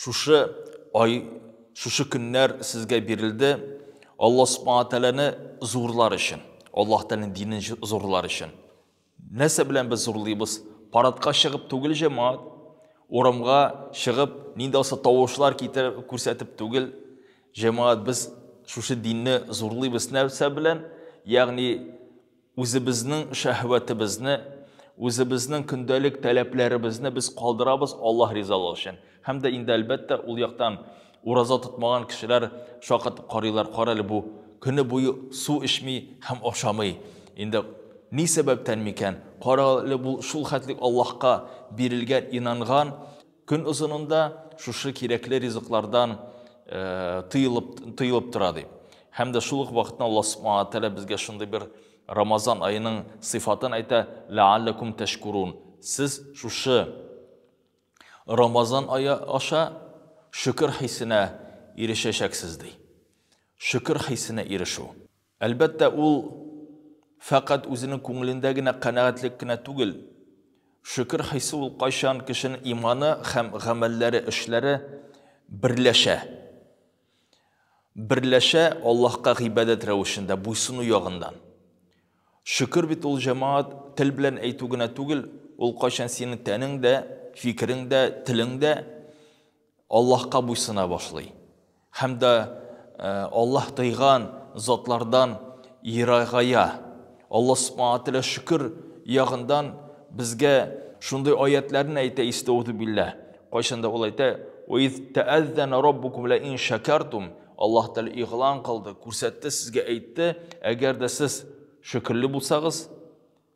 Шушы ай, шушы көннәр сезгә бирелде Алла Субхана Тәләне зурлар өчен, Аллаһ Тәләнең динен зурлар өчен. Нәрсә белән без зурлыйбыз? Парадка чыгып түгел җәмәгать, урамга чыгып, нинди алса тавышлар китереп күрсәтеп түгел. Җәмәгать без шушы динне зурлыйбыз нәрсә белән? Ягъни Үзебезнең шәһвәтебезне, үзебезнең көндәлек таләпләребезне без калдырабыз Аллаһ ризалыгы өчен. Һәм дә инде әлбәттә ул яктан ураза тотмаган кешеләр шаккатып карыйлар, карале бу көне буе су эчми һәм ашамый. Инде ни сәбәптән микән? Карале бу шул хәтлек Аллаһка бирелгән, инанган, Көн озынында шушы кирәкле ризыклардан тыелып, тыелып тора ди. Һәм дә шул ук вакытта Аллаһ Субхану Тәгалә безгә шундый бер Рамазан аеның сыйфатын әйтә, ләалләкум тәшкурун. Сез шушы Рамазан ае аша шөкер хисенә ирешәчәксез ди. Шөкер хисенә ирешү. Әлбәттә, ул фәкать үзенең күңелендә генә канәгатьлек кенә түгел. Шөкер хисе ул кайчан кешенең иманы һәм гамәлләре, эшләре берләшә. Берләшә Аллаһка гыйбадәт рәвешендә, буйсыну ягыннан. Шөкер бит ул, җәмәгать, тел белән әйтү генә түгел, ул кайчан синең тәнең дә, фикерең дә, телең дә, Аллаһка буйсына башлый һәм дә Аллаһ тыйган затлардан ерагая. Аллаһ Субхана ва Тәгалә шөкер ягындан безгә шундый аятьләрне әйтә, истәгъүзү билләһ. Кайчан да ул әйтә, Ва из тәәззәнә раббукум лә ин шәкәртум. Аллаһ Тәгалә игълан кылды, күрсәтте, сезгә әйтте, әгәр дә сез шөкерле булсагыз,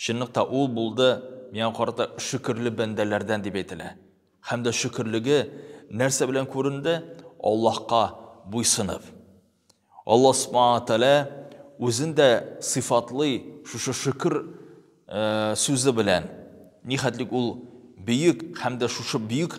Чынлыкта ул булды миңа карата шөкерле бәндәләрдән дип әйтелә. Һәм дә шөкерлеге нәрсә белән күренде? Аллаһка буйсынып. Аллаһ Субхана ва Тәгалә үзен дә сыйфатлый шушы шөкер сүзе белән. Нихәтлек ул бөек һәм дә шушы бөек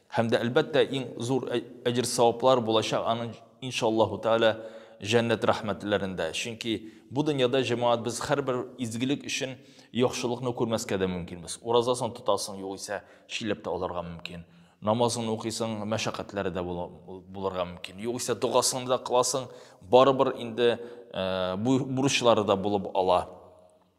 Һәм дә, әлбәттә, иң зур әҗер-саваплар булачак аның, иншаллаһу тәгалә, җәннәт рәхмәтләрендә. Чөнки бу дөньяда, җәмәгать, без һәрбер изгелек өчен яхшылыкны күрмәскә дә мөмкинбез. Уразасын тотасың, югыйсә, чиләп тә алырга мөмкин. Намазыңны укыйсың, мәшәкатьләре дә булырга мөмкин. Югыйсә, догасыңны да кыласың, барыбер инде бурычлары да булып ала.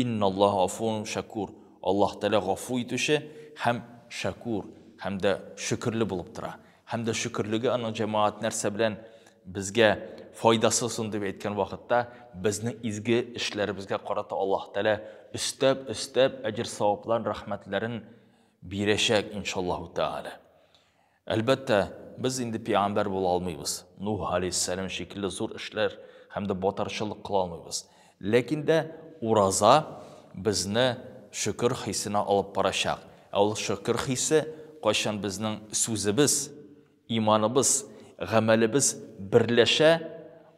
Инналлаһа гафуун шәкур, Аллаһ Тәгалә гафу итүче һәм шәкур, һәм дә шөкерле булып тора. Һәм дә шөкерлеге аның җәмәгать нәрсә белән безгә файдасы соң дип әйткән вакытта, безнең изге эшләребезгә карата Аллаһ Тәгалә өстәп-өстәп әҗер-савапларын, рәхмәтләрен бирәчәк, иншаллаһу тәгалә. Әлбәттә, без инде пигамбәр була алмыйбыз. Нух алейһиссәлам шикелле зур эшләр һәм дә батарчылык кыла алмыйбыз. Ләкин дә ураза безне шөкер хисенә алып барачак. Ә ул шөкер хисе кайчан безнең сүзебез, иманыбыз, гамәлебез берләшә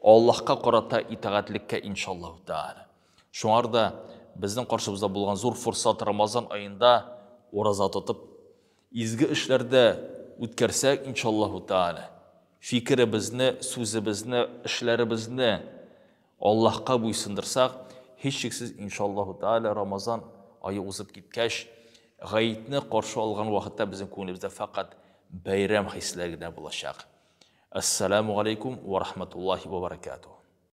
Аллаһка карата итагатьлеккә иншаллаһу тәгалә. Шуңар да безнең каршыбызда булган зур форсат Рамазан аенда ураза тотып, Изге эшләрдә үткәрсәк, иншаллаһу тәгалә, фикеребезне, сүзебезне, эшләребезне Аллаһка буйсындырсак, һичшиксез, иншаллаһу тәгалә, Рамазан ае узып киткәч, Гаетне каршы алган вакытта безнең күңелебездә фәкать бәйрәм хисләре генә булачак. Әссәламү галәйкүм вә рахмәтуллаһи вә бәрәкәтүһ.